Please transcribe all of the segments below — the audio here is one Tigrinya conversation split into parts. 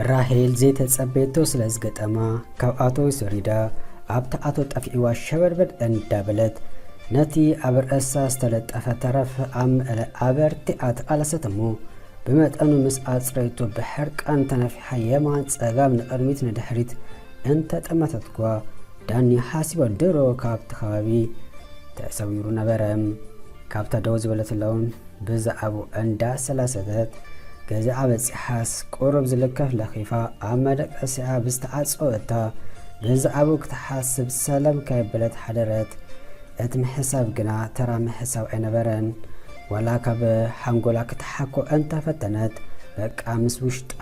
ራሄል ዘይተጸበየቶ ስለ ዝገጠማ ካብ ኣቶ ሰሪዳ ኣብቲ ኣቶ ጠፊዕዋ ሸበድበድ እንዳበለት ነቲ ኣብ ርእሳ ዝተለጠፈ ተረፍ ኣብ መእለ ኣበርቲኣ ተቓለሰት እሞ ብመጠኑ ምስ ኣጽረይቶ ብሕርቃን ተነፊ ሃየማ ጸጋም ንቅድሚት ንድሕሪት እንተጠመተትኳ ዳኒ ሓሲባ ድሮ ካብቲ ከባቢ ተሰዊሩ ነበረ። ካብታ ደው ዝበለት ሎን ብዛዕባኡ እንዳሰላሰተት ገዛኣ በጺሓስ ቁሩብ ዝልከፍ ለኺፋ ኣብ መደቀሲኣ ብዝተዓጸወ እታ ብዛዕባኡ ክትሓስብ ሰለም ከየበለት ሓደረት። እቲ ምሕሳብ ግና ተራ ምሕሳብ ኣይነበረን። ዋላ ካብ ሓንጎላ ክትሓኮ እንተ ፈተነት በቃ ምስ ውሽጣ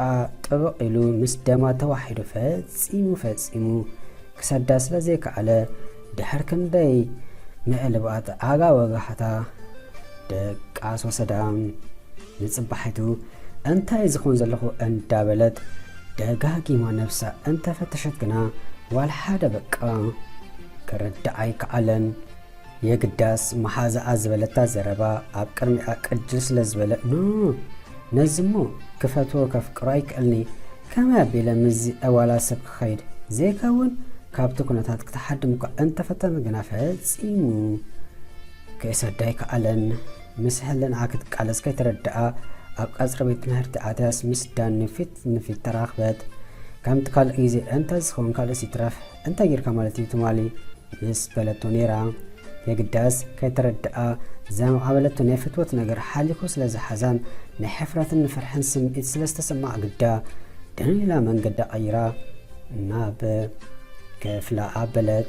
ጥብቕ ኢሉ ምስ ደማ ተዋሒዱ ፈጺሙ ፈጺሙ ክሰዳ ስለ ዘይከኣለ ድሕር ክንደይ ምዕልባጥ ኣጋ ወጋሕታ ደቃስ ወሰዳ። ንጽባሒቱ እንታይ ዝኹን ዘለኹ እንዳ በለት ደጋጊማ ነብሳ እንተ ፈተሸት ግና ዋላ ሓደ በቃ ክርዳኣ ኣይከኣለን። የግዳስ መሓዛኣ ዝበለታ ዘረባ ኣብ ቅድሚኣ ቅጅል ስለ ዝበለ ን ነዚ'ሞ ክፈትዎ ከፍቅሮ ኣይክእልን'የ ከመይ ኣቢለ ምስዚ ዕዋላ ሰብ ክኸይድ ዘይከውን ካብቲ ኩነታት ክትሓድም'ኳ እንተፈተነት ግና ፈጺሙ ክሰዳ ኣይከኣለን ምስ ሕልናኣ ክትቃለስ ከይተረድኣ ኣብ ቀጽሪ ቤት ትምህርቲ ኣትያስ ምስ ዳኒ ፊት ንፊት ተራኽበት ከምቲ ካልእ ግዜ እንተዝኸውን ካልእስ ይትረፍ እንታይ ጌርካ ማለት እዩ ትማሊ ምስ በለቶ ኔራ የግዳስ ከይተረደኣ ዘማዕበለቶ ናይ ፍትወት ነገር ሓሊኹ ስለ ዝሓዛን ናይ ሕፍረትን ንፍርሕን ስምዒት ስለ ዝተሰማዓ ግዳ ድን ኢላ መንገዳ ቀይራ ናብ ክፍላ ኣበለት።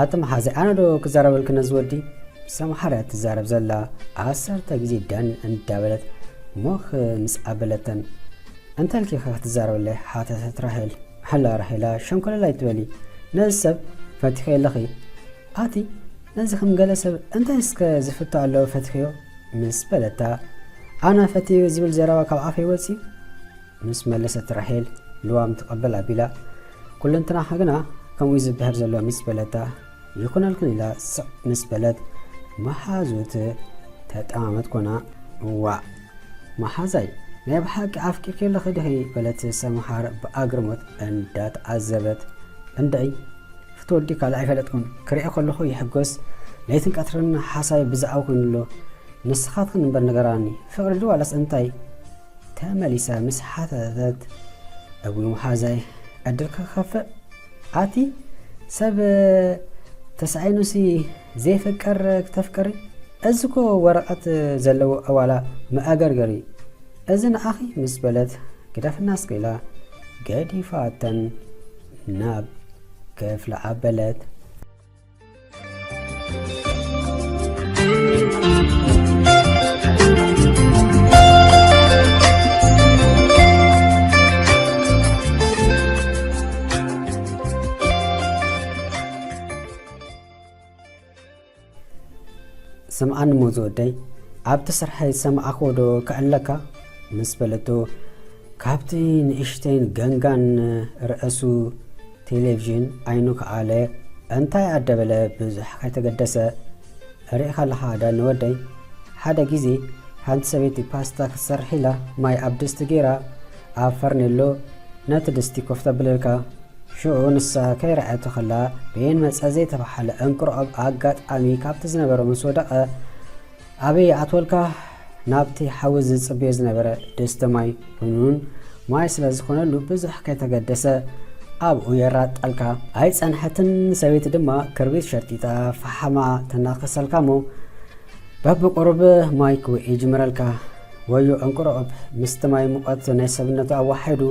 ኣቲ መሓዘይ ኣነ ዶ ክዛረበልክ ነዚ ወዲ ሰምሓር እያ ትዛረብ ዘላ ዓሰርተ ግዜ ዳኒ እንዳበለት ሞክ ምስ ኣበለተን እንተልኪ ከ ክትዛረበለይ ሓተተት ራሄል ሕላ ራሄላ ሸንኮለል ኣይትበሊ ነዚ ሰብ ፈቲኸ ኣለኺ ኣቲ ነዚ ከም ገለ ሰብ እንታይ እስከ ዝፍቶ ኣለዎ ፈቲኸዮ ምስ በለታ ኣነ ፈትዮ ዝብል ዘረባ ካብ ኣፈይ ወፂ ምስ መለሰት ራሄል ልዋም ትቐበል ኣቢላ። ኩለንትናኻ ግና ከምኡ'ዩ ዝብሀል ዘሎ ምስ በለታ። ይኹነልክን ኢላ ስቕ ምስ በለት መሓዙት ተጠማመት ኮና። እዋእ መሓዛይ ናይ ብሓቂ ኣፍቂርኪ ኣለኺ ድኺ? በለት ሰምሃር ብኣግርሞት እንዳተዓዘበት። እንድዒ ፍትወዲ ካልእ ኣይፈለጥኩን፣ ክርእዮ ከለኹ ይሕጎስ፣ ለይትን ቀትርን ሓሳቢ ብዛዕባ ኮይኑ'ሎ፣ ንስኻትክን እምበር ንገራኒ፣ ፍቕሪ ድዩ ዋላስ እንታይ? ተመሊሳ ምስ ሓተተት እግሩ ምሓዛይ ዕድል ክኸፍእ ኣቲ ሰብ ተሳኢኑሲ ዘይፍቀር ክተፍቅሪ እዚ እኮ ወረቐት ዘለዎ ኣዋላ መኣገርገሪ እዚ ንኣኺ ምስ በለት ግደፍና እስከ ኢላ ገዲፋተን ናብ ክፍላ ኣበለት። ስምዓኒ እሞ ዝወደይ ኣብቲ ስርሐይ ሰምዓኾ ዶ ክዕለካ ምስ በለቶ ካብቲ ንእሽተይን ገንጋን ርእሱ ቴሌቭዥን ዓይኑ ከኣለ እንታይ ኣደበለ ብዙሕ ከይተገደሰ ርኢኻ ኣለኻ ዳኒ ወደይ ሓደ ግዜ ሓንቲ ሰበይቲ ፓስታ ክትሰርሕ ኢላ ማይ ኣብ ድስቲ ገይራ ኣብ ፈርኔሎ ነቲ ድስቲ ኮፍ ተብለልካ ሽዑ ንሳ ከይረኣየቶ ከላ በየን መጸ ዘይተባሓለ እንቅርዖብ ኣጋጣሚ ካብቲ ዝነበሮ ምስ ወደቐ ኣበይ ኣትወልካ ናብቲ ሓዊ ዝጽበዮ ዝነበረ ድስቲ ማይ ቡንን ማይ ስለ ዝኾነሉ ብዙሕ ከይተገደሰ ኣብኡ የራጣልካ። ኣይጸንሐትን ሰበይቲ ድማ ክርቢት ሸርጢጣ ፈሓማ ተናኽሰልካ እሞ በብቁሩብ ማይ ክውእ ይጅምረልካ። ወዮ እንቁርኦብ ምስቲ ማይ ሙቐት ናይ ሰብነቱ ኣዋሒዱ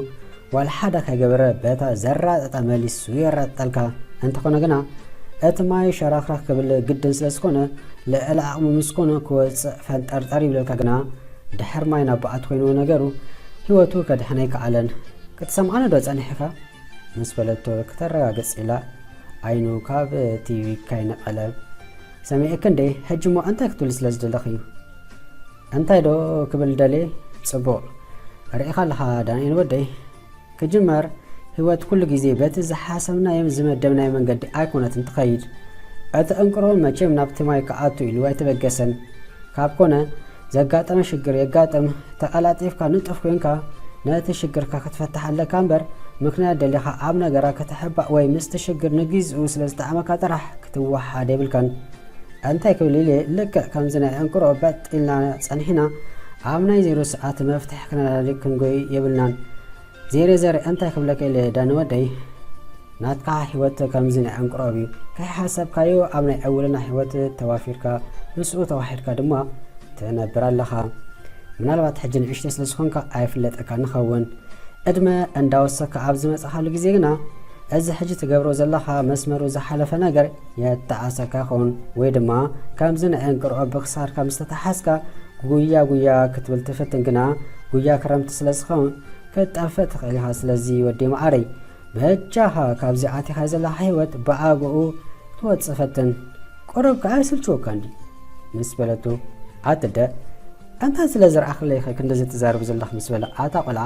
ዋላ ሓደ ከይገበረ በታ ዘራጠጣ መሊሱ የራጥጠልካ። እንተኾነ ግና እቲ ማይ ሸረኽረኽ ክብል ግድን ስለ ዝኾነ ልዕሊ ዓቕሙ ምስ ኮነ ክወጽእ ፈንጠርጠር ይብለልካ ግና ድሕር ማይ ናብ በዓቲ ኮይንዎ ነገሩ ህይወቱ ከድሕን ኣይከኣለን። ክትሰምዓኒዶ ጸኒሕካ? ምስ በለቶ ክተረጋግጽ ኢላ ዓይኑ ካብ ቲቪ ካይነቐለ ሰሚዐኪ እንዴ ሕጂሞ እንታይ ክትብሊ ስለ ዝደለኺ? እንታይ ዶ ክብል ደልየ ጽቡቅ ርኢኻ ኣለኻ ዳንኤል ወደይ ክጅመር ህይወት ኩሉ ግዜ በቲ ዝሓሰብናዮም ዝመደብናዮ መንገዲ ኣይኮነትን ትኸይድ እቲ ዕንቅሮ መቼም ናብቲ ማይ ክኣቱ ኢሉ ኣይተበገሰን ካብ ኮነ ዘጋጠመ ሽግር የጋጥም ተቀላጢፍካ ንጡፍ ኮንካ ነቲ ሽግርካ ክትፈትሕ ኣለካ እምበር ምክንያት ደሊኻ ኣብ ነገራ ከተሕባእ ወይ ምስቲ ሽግር ንግዚኡ ስለ ዝጠዓመካ ጥራሕ ክትወሓድ የብልካን እንታይ ክብል ኢለ ልክዕ ከምዚ ናይ ዕንክሮ በጥ ኢልና ጸኒሕና ኣብ ናይ ዜሮ ሰዓት መፍትሕ ክነላሊ ክንጎይ የብልናን ዜሬ ዘር እንታይ ክብለካ ኢለ ዳኒ ወደይ ናትካ ሂወት ከምዚ ናይ ዕንክሮ እዩ ከይሓሰብካዮ ኣብ ናይ ዕውልና ሂወት ተዋፊርካ ምስኡ ተዋሒድካ ድማ ትነብር ኣለኻ ምናልባት ሕጂ ንእሽተይ ስለ ዝኾንካ ኣይፍለጠካ ንኸውን ዕድመ እንዳወሰካ ኣብ ዝመጽኻሉ ግዜ ግና እዚ ሕጂ ትገብሮ ዘለኻ መስመሩ ዝሓለፈ ነገር የተኣሰካ ኹን ወይ ድማ ከምዚ ናይ እንቅርዖ ብክሳድካ ምስ ተታሓዝካ ጉያ ጉያ ክትብል ትፍትን ግና ጉያ ክረምቲ ስለ ዝኸውን ክትጠፍእ ትኽእል ኢኻ ስለዚ ወዲ መዓረይ በጃኻ ካብዚ ኣቲኻዮ ዘለኻ ሂወት ብኣግኡ ክትወጽእ ፈትን ቁሩብ ከኣ ይስልችወካን ድዩ ምስ በለቱ ኣትደ እንታይ ስለ ዝረኣኽለይኸ ክንድዚ ትዛረቢ ዘለኽ ምስ በለ ኣታ ቆልዓ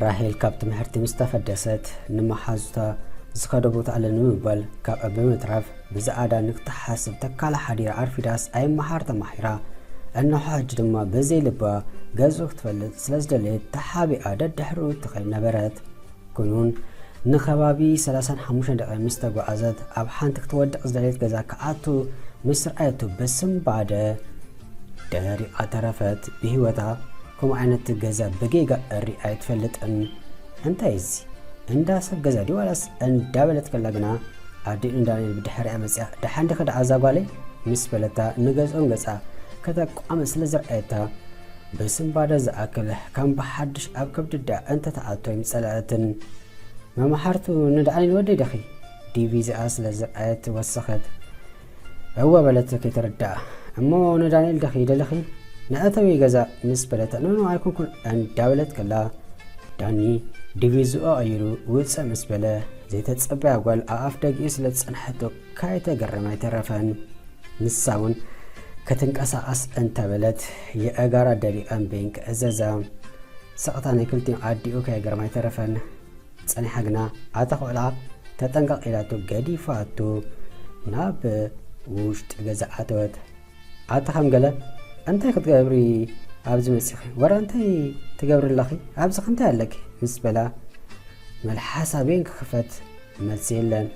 ራሄል ካብ ትምህርቲ ምስ ተፈደሰት ንመሓዙታ ዝኸዶ ቦታ ኣለ ንምባል ካብኣ ብምትራፍ ብዝኣዳ ንክትሓስብ ተካላ ሓዲራ ኣርፊዳስ ኣይመሓር ተማሒራ እነሖ ሕጂ ድማ በዘይ ልባ ገዝኡ ክትፈልጥ ስለ ዝደለየት ተሓቢኣ ደድሕሪኡ እትኸይድ ነበረት ኩኑን ንኸባቢ 35 ደቂ ምስ ተጓዓዘት ኣብ ሓንቲ ክትወድቕ ዝደለየት ገዛ ክኣቱ ምስ ርኣየቱ ብስምባደ ደሪቃ ተረፈት ብሂወታ ከምኡ ዓይነት ገዛ ብጌጋ እሪ ኣይትፈልጥን እንታይ እዚ እንዳ ሰብ ገዛ ድዩ ዋላስ እንዳ በለት ከላ ግና ኣዲኡ ንዳንኤል ብድሕሪኣ መጽያ ደሓን ዲኺ ደኣ እዛ ጓለይ ምስ በለታ ንገዝኦም ገጻ ከተቋምት ስለ ዝርኣየታ ብስንባደ ዝኣክል ከም ብሓድሽ ኣብ ከብዲ ደኣ እንተተኣቶ ኣይምጸለኣትን መማሕርቱ ንዳንኤል ወደይ ዲኺ ዲቪ እዚኣ ስለ ዝርኣየት ወሰኸት እወ በለት ከይተረድኣ እሞ ንዳንኤል ደኺ ደለኺ ንኣተዊ ገዛ ምስ በለታ ኖኖ ኣይኮንኩን እንዳበለት ከላ ዳኒ ድቪዝኦ ቀይሩ ውፅእ ምስ በለ ዘይተፀበያ ጓል ኣብ ኣፍ ደጊኡ ስለ ዝፀንሐቶ ካይተገረመ ኣይተረፈን ንሳ እውን ክትንቀሳቐስ እንተበለት የእጋራ ደሪቐን በይን ክእዘዛ ስቕታ ናይ ክልቲኦም ኣዲኡ ከየገረማ ኣይተረፈን ጸኒሓ ግና ኣታ ኹዕላ ተጠንቀቕ ኢላቶ ገዲፋቶ ናብ ውሽጢ ገዛ ኣተወት። ኣታ ከም ገለ እንታይ ክትገብሪ ኣብዚ መጺኺ ወረ እንታይ ትገብሪ ኣለኺ ኣብዚ እንታይ ኣለኪ ምስ በላ መልሓሳ ቤን ክኽፈት መልሲ የለን።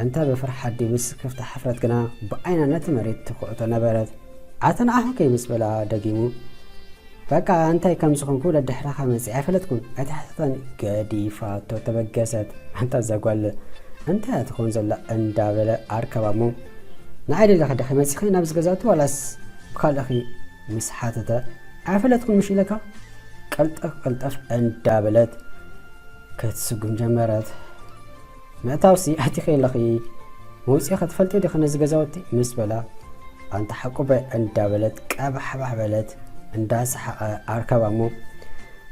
እንተ ብፍርሓት ድዩ ብስክፍታ ሕፍረት ግና ብዓይና ነቲ መሬት ትኩዕቶ ነበረት። ኣታ ንዓኹ ከይ ምስ በላ ደጊሙ በቃ እንታይ ከም ዝኾንኩ ደድሕራኻ መጺኣ ኣይፈለጥኩን ኣይተሓተተን ገዲፋቶ ተበገሰት ኣንታ እዛ ጓል እንታይ እያ ትኾን ዘላ እንዳበለ ኣርከባ እሞ ንዓይ ደለኺ ደኺ መጺኺ ናብዚ ገዛቱ ዋላስ ብካልእኺ ምስ ሓተተ ኣይፈለጥኩን ምሽ ኢለካ ቀልጠፍ ቀልጠፍ እንዳበለት ክትስጉም ጀመረት ምእታውሲ ኣቲኺ ኣለኺ መውጽኢኺ ትፈልጢ ዲኺ ነዚ ገዛውቲ ምስ በላ ኣንታ ሓቁበ እንዳበለት ቀባሕባሕ በለት እንዳሰሓቐ ኣርከባ እሞ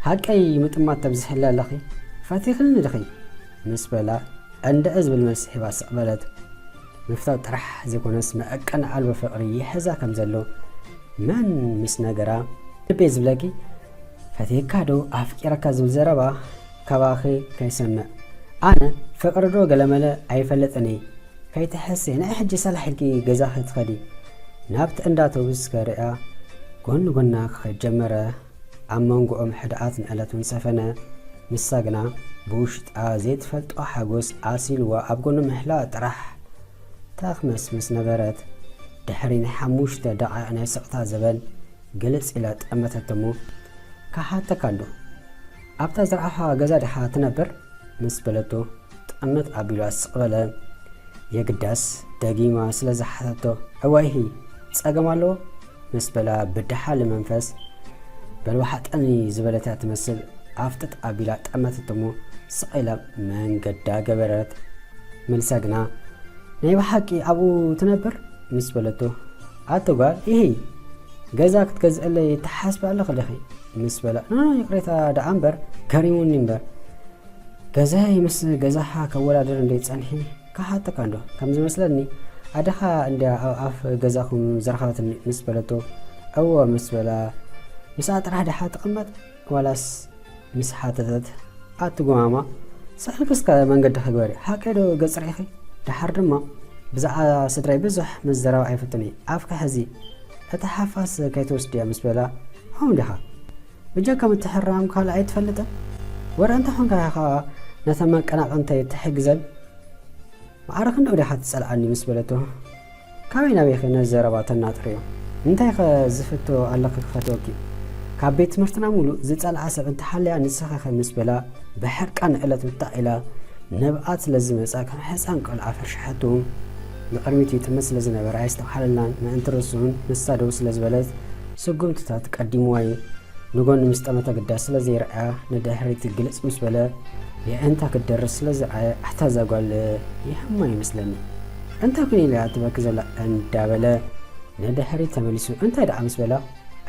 ሃቀይ ምጥማት ተብዝሕለ ኣለኺ ፈቲኽኒ ድኺ ምስ በላ እንድዒ ዝብል መልሲ ሂባ ስቕ በለት ምፍታው ጥራሕ ዘይኮነስ መዕቀን ኣልቦ ፍቕሪ ይሕዛ ከም ዘሎ መን ምስ ነገራ ልቤ ዝብለኪ ፈቲካ ዶ ኣፍቂረካ ዝብል ዘረባ ካባኺ ከይሰምዕ ኣነ ፍቅሪ ዶ ገለመለ ኣይፈልጥን እይ ከይትሕስይ ንዒ ሕጂ ሰላሕ ኢልኪ ገዛኺ ትኸዲ ናብቲ እንዳ ኣቶብስ ከርእያ ጎኒ ጎና ክኸድ ጀመረ ኣብ መንጎኦም ሕድኣት ንዕለት ውን ሰፈነ ንሳ ግና ብውሽጣ ዘይትፈልጦ ሓጎስ ኣሲልዋ ኣብ ጎኑ ምሕላዋ ጥራሕ ተኽመስምስ ነበረት ድሕሪ ናይ ሓሙሽተ ደቂቅ ናይ ስቕታ ዘበን ግልጽ ኢላ ጠመተቶሞ ክሓተካ ኣሎ ኣብታ ዝረኣኻ ገዛ ድሓ ትነብር? ምስ በለቶ ጥዕምት ኣቢላ ስቕ በለ። የግዳስ ደጊማ ስለ ዝሓተቶ እዋይሂ ጸገም ኣለዎ? ምስ በላ ብደሓሊ መንፈስ በልዋሓጠኒ ዝበለት እያ ትመስል ኣፍጥጥ ኣቢላ ጠመተቶ እሞ ስቕ ኢላ መንገዳ ገበረት። መልሳ ግና ናይ ብሓቂ ኣብኡ ትነብር? ምስ በለቶ ኣቲ ጓል ኢሂ ገዛ ክትገዝእለይ ትሓስቢ ኣለኺ ዲኺ? ምስ በለ ን ይቅሬታ ደኣ እምበር ገሪሙኒ እምበር ገዛይ ምስ ገዛኻ ከወዳድር እንዴ ጸኒሒ ክሓተካ እንዶ ከም ዝመስለኒ ኣደኻ እንድያ ኣብ ኣፍ ገዛኹም ዘርኻትኒ ምስ በለቶ እወ ምስ በላ ምስኣ ጥራሕ ድሓ ትቅመጥ ዋላስ ምስ ሓተተት ኣቲ ጎማማ ስሕልክስከ መንገድኺ ግበሪ ሓቀይ ዶ ገጽ ሪኢኺ ደሓር ድማ ብዛዕባ ስድራይ ብዙሕ ምዝራብ ኣይፈቱን እየ ኣፍኪ ሕዚ እቲ ሓፋስ ከይትወስድዮ ምስ በላ ሆም ዲኻ ብጀካ ምትሕርራም ካልእ ኣይትፈልጥን ወረ እንተኾንካ ኢኻ ነተን መቀናቕንተይ ትሕግዘን መዓረ ክንደኡ ዲኻ ትጸልኣኒ ምስ በለቶ ካበይ ናበይ'ኸ ነዚ ዘረባ ተናጥርዮ? እንታይ'ኸ ዝፍቶ ኣለኺ ክፈትወኪ? ካብ ቤት ትምህርትና ምሉእ ዝጸልኣ ሰብ እንተሃልያ ንስኺ'ኸ ምስ በላ ብሕርቃን ንዕለት ውታእ ኢላ ነብኣት ስለ ዝመጻ ከም ሕጻን ቆልዓ ፈርሸሐቱ። ንቕድሚት ይጥምት ስለ ዝነበረ ኣየስተብሃለላን ምእንቲ ርእሱ'ውን ንሳ ደው ስለ ዝበለት ስጉምትታት ቀዲምዋ'ዩ። ንጎኒ ምስ ጠመተ ኣገዳሲ ስለ ዘይረኣያ ንድሕሪት ግልጽ ምስ በለ የዒንታ ክትደርት ስለ ዝረኣየ ኣታ እዛ ጓል ይሃማ ይመስለኒ። እንታይ ኩን ኢሉ እያ ትበኪ ዘላ እንዳበለ ንድሕሪት ተመሊሱ እንታይ ደኣ ምስ በላ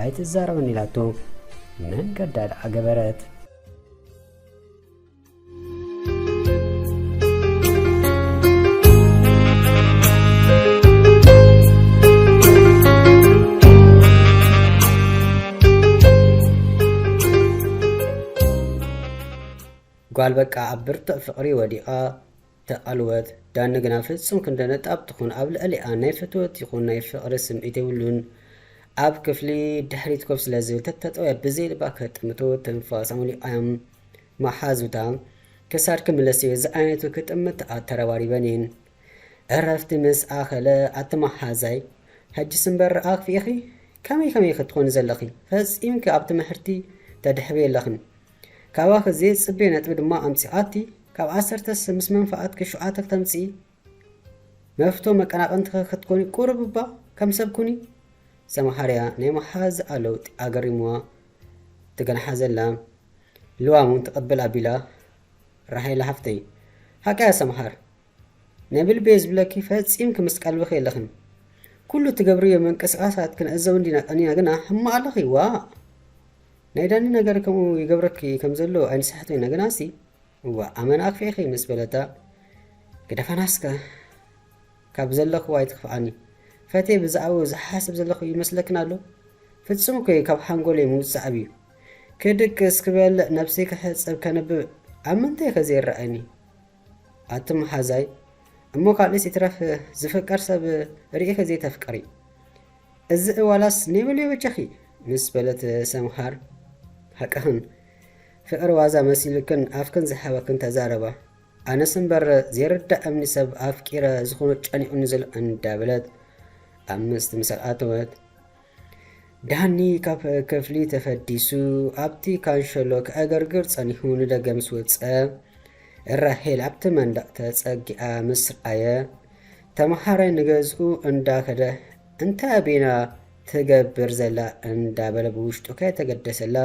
ኣይትዛረበኒ ኢላቶ መንገዳ ደኣ ገበረት። ጓል በቃ ኣብ ብርቱዕ ፍቕሪ ወዲቓ እታ ኣልወት ዳኒ ግና ፍጹም ክንደ ነጣብ ትኹን ኣብ ልዕሊኣ ናይ ፍትወት ይኹን ናይ ፍቕሪ ስምዒት የብሉን። ኣብ ክፍሊ ድሕሪት ኮፍ ስለ ዝብል ተተጠውያ ብዘይ ልባ ክጥምቶ ትንፋስ ኣምሊቓያ መሓዙታ ክሳድኪ ምለስዮ ዝዓይነቱ ክጥምትኣ ተረባሪበን እየን። ዕረፍቲ ምስ ኣኸለ ኣቲ መሓዛይ ሕጅስ እምበር ኣኽፊኢኺ ከመይ ከመይ ኢኺ ትኾኒ ዘለኺ ፈጺምኪ ኣብ ትምሕርቲ ተድሕብዮ ኣለኽን። ካባኺ ዘይጽበዮ ነጥቢ ድማ ኣምጺኣቲ፣ ካብ ዓሰርተ ስሰ ምስ መንፍዓትኪ ሹዓተ ክተምጽኢ፣ መፍቶ መቀናቅንትኺ ክትኮኒ ቁሩብ እባ ከም ሰብ ኩኒ። ሰምሃርያ ናይ መሓዝኣ ለውጢ ኣገሪምዋ ትገንሓ ዘላ ልዋም ውን ትቅብል ኣቢላ ራሄላ ሓፍተይ። ሓቂ'ያ ሰምሃር ነብልቤ ዝብለኪ ፈጺምኪ ምስ ቀልብኺ የለኽን ኩሉ ትገብርዮ ምንቅስቃሳት ክንዕዘቡ እንዲና ቀኒና ግና ሕማቅ ኣለኺ ዋእ ናይ ዳኒ ነገር ከምኡ ይገብረኪ ከም ዘሎ ኣይንስሕትን ኢና ግናሲ እዋእ ኣመና ኣክፊእኺ ምስ በለታ ግደፋናስከ ካብ ዘለኽዎ ኣይትክፍኣኒ ፈቴ ብዛዕባኡ ዝሓስብ ዘለኹ ይመስለክን ኣሎ ፍጹም እኮ እዩ ካብ ሓንጎለይ ምውጻእ ኣብዩ ክድቅስ ክበልዕ ነብሰይ ክሕጽብ ከንብብ ኣብ ምንታይ ከ ዘይረኣየኒ ኣቲ መሓዛይ እሞ ካልእስ ይትረፍ ዝፍቀር ሰብ ሪኢኺ ዘይተፍቅሪ እዚ እዋላስ ኔበልዮ በጃኺ ምስ በለት ሰምሃር ሓቅኽን ፍቅሪ ዋዛ መሲልክን ኣፍክን ዝሓበክን ተዛረባ ኣነስ እምበር ዘይርዳእምኒ ሰብ ኣፍቂረ ዝኹኑ ጨኒቁኒ ዘሎ እንዳበለት ኣብ ምስቲ ምሳል ኣተወት ዳኒ ካብ ክፍሊ ተፈዲሱ ኣብቲ ካንሸሎ ክዕገርግር ጸኒሑ ንደገ ምስ ወጸ፣ ራሄል ኣብቲ መንደቕ ተጸጊዓ ምስ ረኣየ፣ ተመሃራይ ንገዝኡ እንዳ ከደ እንታይ ኣቢና ትገብር ዘላ እንዳ በለ ብውሽጡ ከየተገደሰላ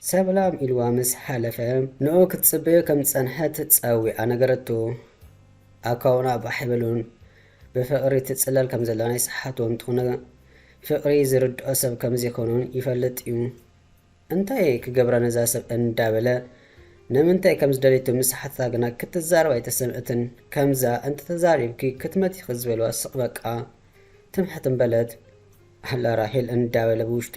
ሰላም ኢልዋ ምስ ሓለፈ ንኡ ክትጽበዮ ከም ዝጸንሐት ጸዊዓ ነገረቶ። ኣካውና ባሕ ኣይበሉን። ብፍቕሪ ትጽለል ከም ዘላ ናይ ስሓቶ እንተኾነ ፍቕሪ ዝርድኦ ሰብ ከም ዘይኮኑን ይፈልጥ እዩ። እንታይ ክገብራ ነዛ ሰብ እንዳበለ ንምንታይ ከም ዝደለየቶ ምስ ሓተታ ግና ክትዛረብ ኣይተሰምዕትን። ከምዛ እንተተዛሪብኪ ክትመቲኺ ዝበልዋ ስቕ በቃ ትም ሕትም በለት። ኣላ ራሄል እንዳበለ ብውሽጡ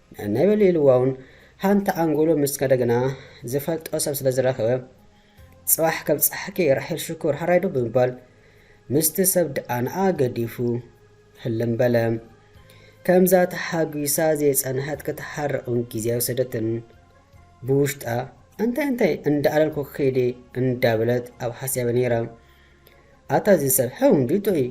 ነናይ በሊ ኢልዋውን ሃንቲ ኣንጎሎ ምስ ከደ ግና ዝፈልጦ ሰብ ስለ ዝረኸበ ጽባሕ ከም ጸሓኪ ራሒል ሽኮር ሃራይ ዶ ብምባል ምስቲ ሰብ ድኣ ንኣ ገዲፉ ህልም በለ። ከምዛ ተሓጒሳ ዘይጸንሐት ክትሓርቕን ግዜ ኣይወሰደትን። ብውሽጣ እንታይ እንታይ እንዳኣለልኩ ክይዲ እንዳበለት ኣብ ሓስያበ ነይራ። ኣታ እዚ ሰብ ሕው ሪቶ እዩ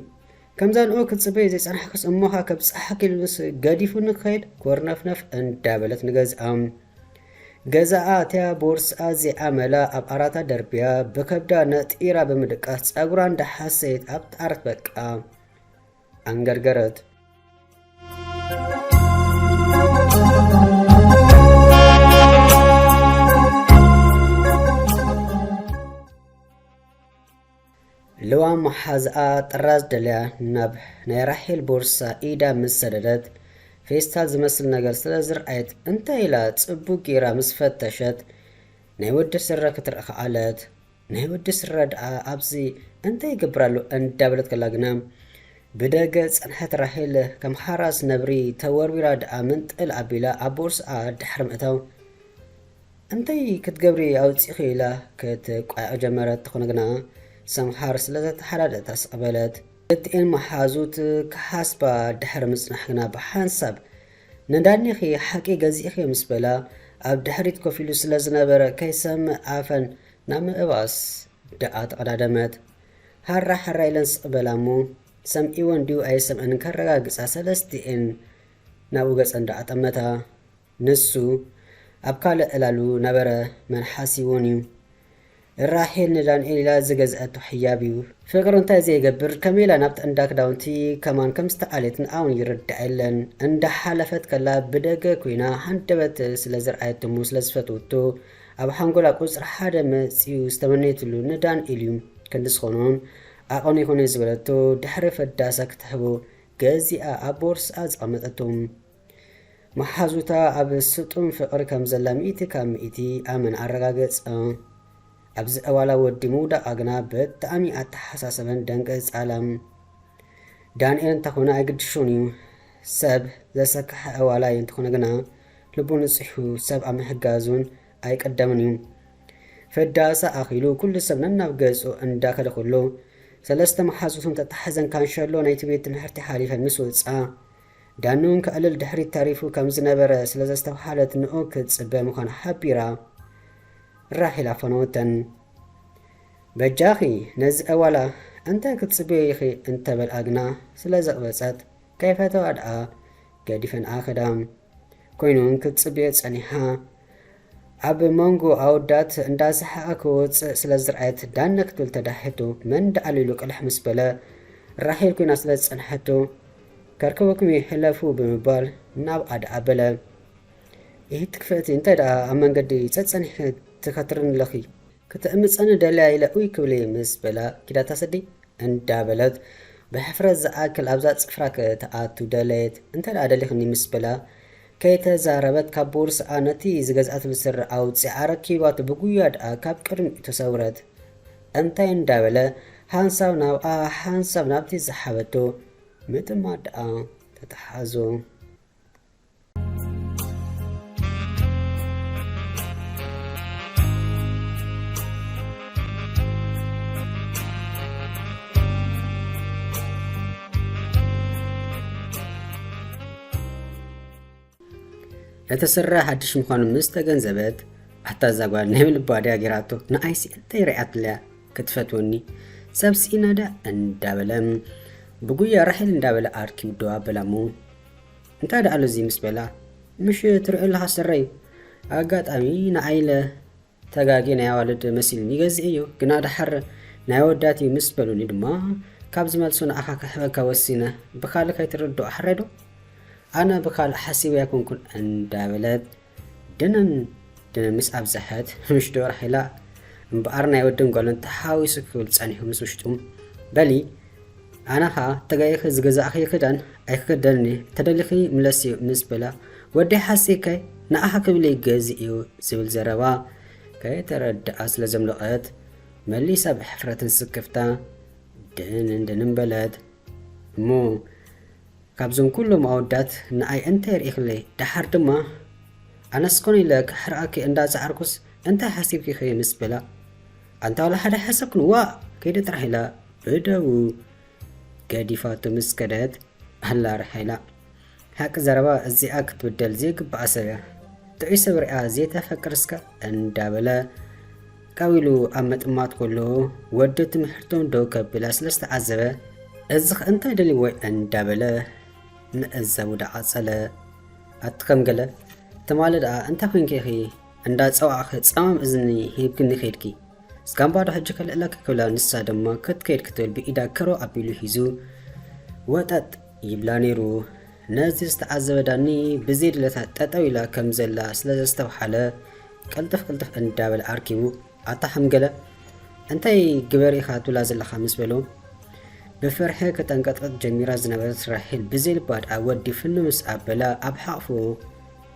ከምዛ ንኡ ክትጽበዮ ዘይጸናሕክስ እሞኻ ከብጽሓኪ ኢሉንስ ገዲፉኒ ክኸይድ ኮርነፍነፍ እንዳበለት ንገዝኣ ገዛኣ ኣትያ ቦርስኣ ዘይኣመላ ኣብ ኣራታ ደርብያ ብከብዳ ነጢራ ብምድቃስ ጸጉራ እንዳሓሰየት ኣብ ጣርት በቃ ኣንገርገረት ልዋም መሓዝኣ ጥራዝ ደልያ ናብ ናይ ራሄል ቦርሳ ኢዳ ምስ ሰደደት፣ ፌስታል ዝመስል ነገር ስለ ዝርኣየት እንታይ ኢላ ጽቡቕ ገይራ ምስ ፈተሸት ናይ ወዲ ስረ ክትርኢ ከኣለት። ናይ ወዲ ስረ ደኣ ኣብዚ እንታይ ይገብር ኣሎ እንዳበለት ከላ ግና ብደገ ዝጸንሐት ራሄል ከም ሓራስ ነብሪ ተወርዊራ ደኣ መንጠል ኣቢላ ኣብ ቦርስኣ ድሕሪ ምእታው እንታይ ክትገብሪ ኣውጺኺ ኢላ ክትቋየቝ ጀመረት፣ ተኾነ ግና ሰምሃር ስለ ዘተሓዳደታ ስቕ በለት። ክልቲኤን መሓዙት ክሓስባ ድሕሪ ምጽናሕ ግና ብሓንሳብ ንዳኒኺ ሓቂ ገዚእኺ ምስ በላ ኣብ ድሕሪት ኮፍ ኢሉ ስለ ዝነበረ ከይሰምዕ ኣፈን ናብ ምእባስ ደኣ ተቐዳደመት። ሃራ ሃራ ኢለን ስቕ በላ እሞ ሰምዒወን ድዩ ኣይሰምዐንን ከረጋግጻ ሰለስቲኤን ናብኡ ገጸን ደኣ ጠመታ። ንሱ ኣብ ካልእ ዕላሉ ነበረ መን ሓሲቡን'ዩ። ራሄል ንዳንኤል ኢላ ዝገዝኣቶ ሕያብ'ዩ። ፍቅሪ እንታይ ዘይገብር ከመይ ኢላ ናብቲ እንዳ ክዳውንቲ ከማን ከም ዝተኣልየትን ኣውን ይርዳኣ የለን እንዳ ሓለፈት ከላ ብደገ ኮይና ሃንደበት ስለ ዘርኣየቶ'ሞ ስለ ዝፈትወቶ ኣብ ሓንጎላ ቁጽሪ ሓደ መጽዩ ዝተመነየትሉ ንዳንኤል'ዩ ክንዲ ዝኾኖን ዓቐኑ ይኹነይ ዝበለቶ ድሕሪ ፈዳሳ ክትህቦ ገዚኣ ኣብ ቦርስኣ ዘቐመጠቶም መሓዙታ ኣብ ስጡም ፍቕሪ ከም ዘላ ሚእቲ ካብ ሚእቲ ኣመን ኣረጋገጸ። ኣብዚ ዕዋላ ወዲ ምውዳቓ ግና ብጣዕሚ ኣተሓሳሰበን ደንገጻላ። ዳንኤል እንተኾነ ኣይግድሾን እዩ። ሰብ ዘሰከሐ ዕዋላይ እንተኾነ ግና ልቡ ንጹሕ እዩ፣ ሰብ ኣብ ምሕጋዝውን ኣይቅደምን እዩ። ፍዳሳ ኣኺሉ ኩሉ ሰብ ነናብ ገጹ እንዳከደ ከሎ ሰለስተ መሓዙቱ እንተተሓዘን ካንሸሎ ናይቲ ቤት ትምሕርቲ ሓሊፈን ምስ ወጻ ዳኑ እንክዕልል ድሕሪት ተሪፉ ከም ዝነበረ ስለ ዘስተብሃለት ንኡ ክትጽበ ምዃና ሓቢራ ራሄል ኣፈነወተን። በጃኺ ነዚ ዕዋላ እንተ ክትጽብዮ ኢኺ እንተ በልኣ ግና ስለ ዘቕበጸት ከይፈተዋ ደኣ ገዲፈንኣ ከዳ። ኰይኑ እንክትጽብዮ ጸኒሓ ኣብ መንጎ ኣወዳት እንዳ ሰሓቐ ክወጽእ ስለ ዝርኣየት ዳነ ክትብል ተዳሂቱ መን ደኣሉ ኢሉ ቅልሕ ምስ በለ ራሄል ኮይና ስለ ዝጸንሐቶ ከርከበኩም እየ ሕለፉ ብምባል ናብኣ ደኣ በለ ኢሂቲ ክፍእቲ እንታይ ደኣ ኣብ መንገዲ ጸጸኒሕኪ ትከትርኒ ኣለኺ ክተእምጸኒ ደልያ ኢለ ኡይ ክብልየ ምስ በላ ኪዳታ ሰዲ እንዳ በለት ብሕፍረት ዝኣክል ኣብዛ ጽፍራ ክትኣቱ ደለየት እንተ ደኣ ደሊኽኒ ምስ በላ ከይተዛረበት ካብ ቦርስኣ ነቲ ዝገዝኣትሉ ስረ ኣውጺኣ ኣረኪባቶ ብጉያ ድኣ ካብ ቅድሚኡ ተሰውረት። እንታይ እንዳበለ ሓንሳብ ናብኣ ሓንሳብ ናብቲ ዝሓበቶ ምጥማት ድኣ ተታሓሓዞ። ነቲ ስረ ሓድሽ ምዃኑ ምስ ተገንዘበት ኣታ እዛ ጓል ናይ ምልባ ድያ ጌራቶ ንኣይሲ እንታይ ርኣያትለያ ክትፈትወኒ ሰብ ስኢናዳ እንዳበለ ብጉያ ራሒል እንዳበለ ኣርኪ ውድዋ ኣበላ እሞ እንታይ ደኣ ኣሎ እዚ ምስ በላ ምሽ ትሪኦ ኣለኻ ስረይ ኣጋጣሚ ንኣይለ ተጋጊ ናይ ኣዋልድ መሲልኒ ገዚእ እዩ ግና ደሓር ናይ ኣወዳት እዩ ምስ በሉኒ ድማ ካብ ዝመልሱ ንኣኻ ክሕበካ ወሲነ ብካልእ ከይትርድኦ ሓረይ ዶ ኣነ ብካልእ ሓሲበ ኣይኮንኩን እንዳበለት ድንን ድንን ምስ ኣብዝሐት ምሽ ዶ ራሒላ እምበኣር ናይ ወድን ጓልን ተሓዊሱ ክብል ጸኒሑ ምስ ውሽጡ በሊ ኣነ ኸኣ ተጋጊኺ ዝገዛእኽዮ ክዳን ኣይክኽደንን እየ፣ እንተደሊኺ ምለስዮ ምስ በላ፣ ወደይ ሓሲብከ ንዓኺ ክብል ይገዝእዮ ዝብል ዘረባ ከይተረድኣ ስለ ዘምለቐት፣ መሊሳ ብሕፍረትን ስክፍታ ድንን ድንን በለት። እሞ ካብዞም ኩሎም ኣወዳት ንኣይ እንታይ ርኢኽለይ? ደሓር ድማ ኣነስ ኮን ኢለ ከሕርቐኪ እንዳ ጸዓርኩስ እንታይ ሓሲብኪኺ ምስ በላ፣ ኣንታ ዋላ ሓደ ኣይሓሰብክን ዋእ ከይደ ጥራሕ ኢላ እደዉ ገዲፋቶ ምስ ከደት ኣላ ርሓ ኢላ። ሓቂ ዘረባ እዚኣ ክትብደል ዘይግብኣ ሰብ እያ። ጥዑይ ሰብ ሪኣ ዘይተፈቅር እስከ እንዳበለ ካብ ኢሉ ኣብ ምጥማት ከሎ ወዲ ትምሕርቶም ደው ከብላ ስለ ዝተዓዘበ እዚኽ እንታይ ደልዎ እንዳበለ ምዕዛቡ ዳዓጸለ ኣቲ ከም ገለ ትማሊ ደኣ እንታይ ኮንኪ ኢኺ እንዳ ጸዋዕኺ ጸማም እዝኒ ሂብክኒ ከድኪ ስጋምባዶ ሕጂ ከልዕለኪ ክብላ ንሳ ድማ ክትከይድ ክትብል ብኢዳ ከሮ ኣቢሉ ሂዙ ወጠጥ ይብላ ነይሩ ነዚ ዝተዓዘበ ዳኒ ብዘይ ድለታ ጠጠው ኢላ ከም ዘላ ስለ ዘስተብሓለ ቅልጥፍ ቅልጥፍ እንዳበለ ኣርኪቡ ኣታ ሕምገለ እንታይ ግበር ኢኻ ትብላ ዘለኻ ምስ በሎ ብፍርሒ ክጠንቀጥቅጥ ጀሚራ ዝነበረት ራሄል ብዘይልባ ድኣ ወዲ ፍኑ ምስ ኣበላ ኣብ ሓቕፉ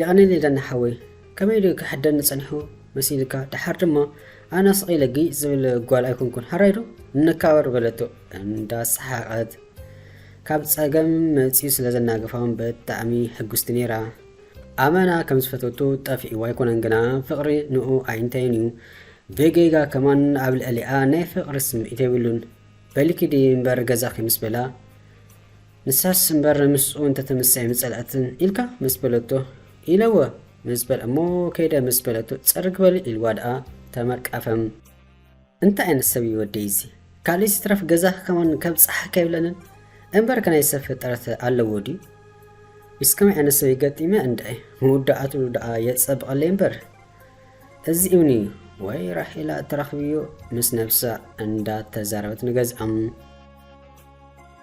የቐንየለይዳኒ ሓወይ ከመይ ዶ ክሕደኒ ጸኒሑ መሲልካ ደሓር ድማ ኣነ ስቕ ኢለ ግይ ዝብል ጓል ኣይኮንኩን ሃራይ ዶ ንካበር በለቶ እንዳ ሰሓቐት ካብ ጸገም መጺኡ ስለ ዘናገፋውን ብጣዕሚ ሕጉስቲ ነይራ ኣመና ከም ዝፈተቶ ጠፊእዎ ኣይኮነን ግና ፍቕሪ ንኡ ኣይንታይን እዩ ብጌጋ ከማን ኣብ ልዕሊኣ ናይ ፍቕሪ ስምዒት የብሉን በሊኪዲ እምበር ገዛኺ ምስ በላ ንሳስ እምበር ምስኡ እንተ ተመሰየ ምጸልኣትን ኢልካ ምስ በለቶ ኢለወ ምስ በል እሞ ከይደ ምስ በለቶ ጸርግ በል ኢልዋ ደኣ ተመቃፈም። እንታይ ኣይነት ሰብ እዩ ወደይ እዚ ካልእስ ይትረፍ ገዛ ክከውን ከብ ጻሓ ከይብለንን እምበር ከናይ ሰብ ፍጠረት ኣለዎ ድዩ ምስ ከመይ ዓይነት ሰብ ይገጢመ እንድዒ ምውዳኣቱ ደኣ የጸብቐለይ እምበር እዚ እምኒ እዩ ወይ ራሄላ ተራኽብዮ ምስ ነብሳ እንዳ ተዛረበት ንገዝኣም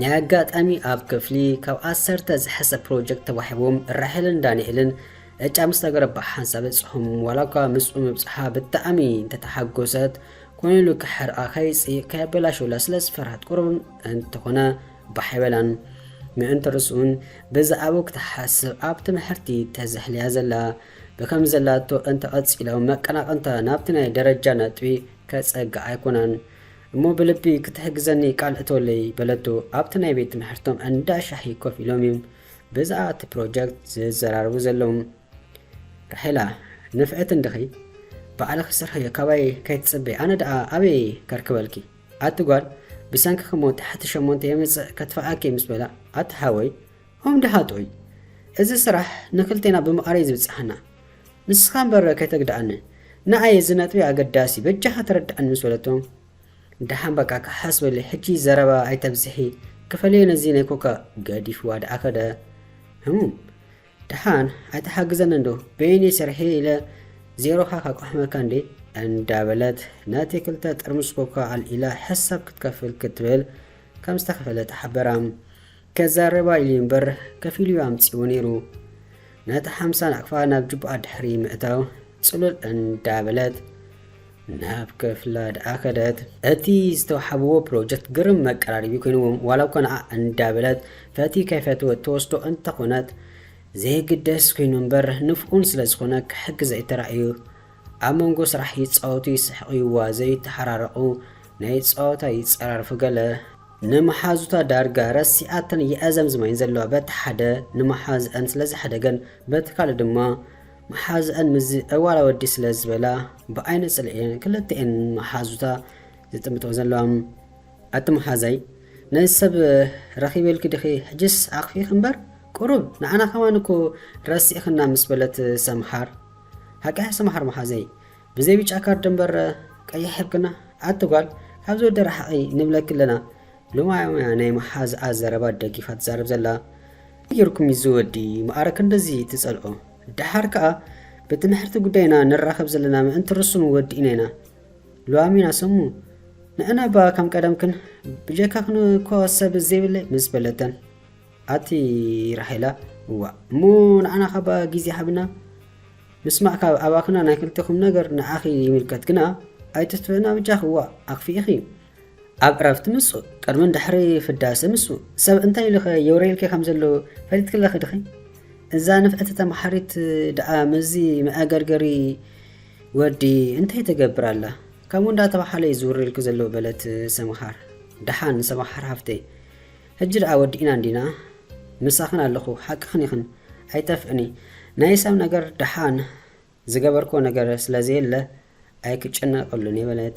ናይ ኣጋጣሚ ኣብ ክፍሊ ካብ ዓሰርተ ዝሐሰ ፕሮጀክት ተዋሒቡም ራሄልን ዳኒኤልን ዕጫ ምስ ነገረ ብሓንሳብ በጽሑም ዋላ እኳ ምስኡ ምብጽሓ ብጣዕሚ እንተተሓጎሰት ኮይኑ ኢሉ ክሕርቃ ከይጽእ ከየበላሽውላ ስለ ዝፈርሃት ቁሩብ እንተኾነ ባሕ ኣይበላን ምእንቲ ርስኡን ብዛዕባኡ ክትሓስብ ኣብ ትምሕርቲ ተዘሕልያ ዘላ ብከም ዘላቶ እንተቐጺሎም መቀናቕንታ ናብቲ ናይ ደረጃ ነጥቢ ከጸግዓ ኣይኮናን እሞ ብልቢ ክትሕግዘኒ ቃል እቶለይ በለቶ ኣብቲ ናይ ቤት ትምሕርቶም እንዳ ሻሂ ኮፍ ኢሎም እዩም ብዝኣ እቲ ፕሮጀክት ዝዘራረቡ ዘለዉ ራሄላ ንፍዕቲ እንድኺ ባዕልኺ ስርሕዮ ካባይ ከይትጽበይ ኣነ ድኣ ኣበይ ከርክበልኪ ኣቲ ጓል ብሰንክኺ እሞ ትሕቲ ሸሞንተ የምጽእ ከትፍኣኪ እየ ምስ በላ ኣቲ ሓወይ ኦም ድሃጦይ እዚ ስራሕ ንክልቴና ብምቓረይ ዝብጽሓና ንስኻ እምበር ከይተግድኣኒ ንኣይ እዚ ነጥቢ ኣገዳሲ እዩ በጃኻ ተረድኣኒ ምስ በለቶ ደሓን በቃ ክሓስበሊ ሕጂ ዘረባ ኣይተብዝሒ ክፈልዮ ነዚ ናይ ኮካ ገዲፍዋ ደኣ ከደ ህሙም ደሓን ኣይተሓግዘኒ እንዶ በይነይ ሰርሒ ኢለ ዜሮኻ ካቋሕመካ እንዴ እንዳበለት ነቲ ክልተ ጥርሙስ ኮካ ኣልኢላ ሕሳብ ክትከፍል ክትብል ከም ዝተኸፈለ ተሓበራ። ከዛርባ ኢሉ እምበር ከፊሉ'ዩ ኣምጺኡ ነይሩ። ነታ ሓምሳ ናቕፋ ናብ ጁባኣ ድሕሪ ምእታው ጽሉል እንዳበለት ናብ ክፍላ ደኣ ከደት። እቲ ዝተውሓብዎ ፕሮጀክት ግርም መቀራረቢ ኮይንዎም ዋላ'ኳ ንዓ እንዳበለት ፈትዩ ከይፈተወት ትወስዶ እንተኾነት ዘይግደስ ኮይኑ እምበር ንፍኡን ስለዝኾነ ክሕግዘ'ዩ ተራእዩ። ኣብ መንጎ ስራሕ ይጻወቱ ይስሕቑ ይዋዘዩ ይተሓራረቑ ናይ ጸወታ ይጸራረፉ ገለ ንመሓዙታ ዳርጋ ረሲኣተን የእዘምዝማ እየን ዘለዋ በቲ ሓደ ንመሓዝኣን ስለ ዘሕደገን በቲ ካልእ ድማ መሓዝኣን ምስዚ ዕዋላ ወዲ ስለ ዝበላ ብዓይነ ጽልኢ እየን ክልተኤን መሓዙታ ዝጥምጥኦ ዘለዋ ኣቲ መሓዛይ ነዚ ሰብ ረኺበልኪ ዲኺ ሕጅስ ኣኽፊኺ እምበር ቁሩብ ንዓና ከማን እኮ ረሲእኽና ምስ በለት ሰምሃር ሃቃያ ስም ሓር ማሓዘይ ብዘይ ብጫ ካርድ እምበር ቀይሕ ሕብክና ኣቲ ጓል ካብዚ ወዲ ራሓቂ ንብለኪ ኣለና ሎማዮም እያ ናይ ማሓዝኣ ዘረባ ደጊፋ ትዛረብ ዘላ ከመይ ገርኩም እዩ እዚ ወዲ ማኣረ ክንድዚ ትጸልኦ ዳሓር ካኣ ብትምሕርቲ ጉዳይ ኢና ንራከብ ዘለና ምእንቲ ርሱኑ ወዲእና ኢና ሎዋሚና ሰሙ ንዕና እባ ከም ቀደምክን ብጀካክን እኮ ሰብ ዘይብለይ ምስ በለተን ኣቲ ራሄላ እዋእ እሞ ንዓና ካባ ግዜ ሃብና ምስማዕ ካብ ኣባክና ናይ ክልቴኩም ነገር ንዓኺ ይምልከት ግና ኣይተትፍዕና ብጃኺ እዋእ ኣክፊኢኺ ኣብ ዕረፍቲ ምጹ ቅድምን ድሕሪ ፍዳሰ ምጹ ሰብ እንታይ ኢሉኸ የውረየልኪ ከም ዘሎ ፈሊጥኪ ኣለኺ ድኺ እዛ ንፍዕቲ ተማሓሪት ድኣ ምስዚ መኣገርገሪ ወዲ እንታይ ተገብር ኣላ ከምኡ እንዳተባሓለ እዩ ዝውረየልኪ ዘሎ በለት ሰምሃር ድሓን ሰምሃር ሃፍተይ ሕጂ ደኣ ወዲእና እንዲና ምሳኽን ኣለኹ ሓቅኽን ኢኽን ኣይጠፍእኒ ናይ ሰብ ነገር ደሓን ዝገበርክዎ ነገር ስለ ዘየለ ኣይክጨነቀሉን እየ በለት።